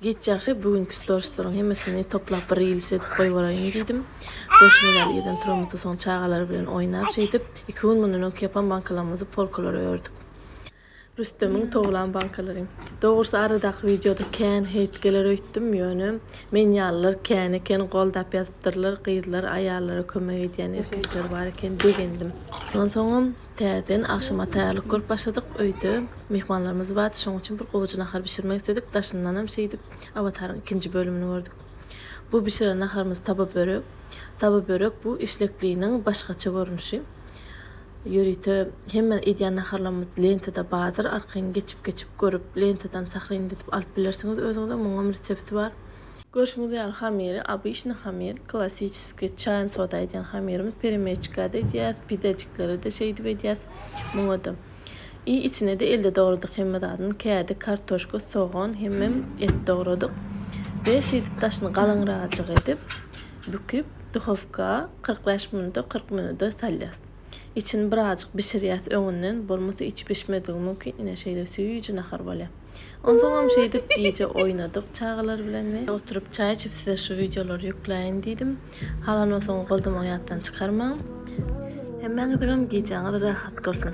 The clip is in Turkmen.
Giç ýagşy, bu günki storslaryn hemmesini toplap bir reels edip goýberaýyn diýdim. Görşüňiz ýaly irden turamyzda soň çagalar bilen oýnap şeýdip, iki gün mundan öňki ýapan bankalarymyzy polkalara ördük. Rüstemiň towlan bankalary. Dogrusy aradaky wideoda kän heýt geler öýtdüm, ýöne men ýalylar kän eken, goldap ýazypdyrlar, gyzlar aýallara kömek edýän erkekler bar eken, begendim. Ondan soňam Täzeden agşama taýýarlyk görüp başladyk. Öýde myhmanlarymyz bardy, şonuň üçin bir gowuja nahar bişirmek isledik. Daşyndanam şeýdip Awataryň ikinji bölümini gördük. Bu bişiren naharymyz taba börek. Taba börek bu işlekliniň başgaça görnüşi. Ýörite hemme edýän naharlarymyz lentada bardyr, arkaýyn geçip-geçip görüp lentadan sahrinledip alyp bilersiňiz özüňize, muňam resepti bar. Görşüňiz ýaly hamiri obyçnyý hamir, klassiçeskiý, çaýan soda edýän hamirimiz, peremeçka-da edýäs, pidejiklere-de şeýdip edýäs. Muňa-da. I içine-de elde dogradyk hemme zadyny, kädi, kartoşka, sogan, hemem et dogradyk. We şeýdip daşyny galyňrajyk edip, büküp, duhowka kyrk bäş minut-a, kyrk minuda salýas. Içini birazjyk bişirýäs öňünden, bolmasa içi bişmezligi mümkin, ine şeýle süýji nahar bolýa. Onsoňam şeýdip gije oýnadyk çagalar bilen we. Oturyp çaý içip size şu wideolary ýükläýin diýdim. Halanmasaň goldum oýatdan çykarmaň. Hemmäňiziňem gijäňiz rahat bolsun.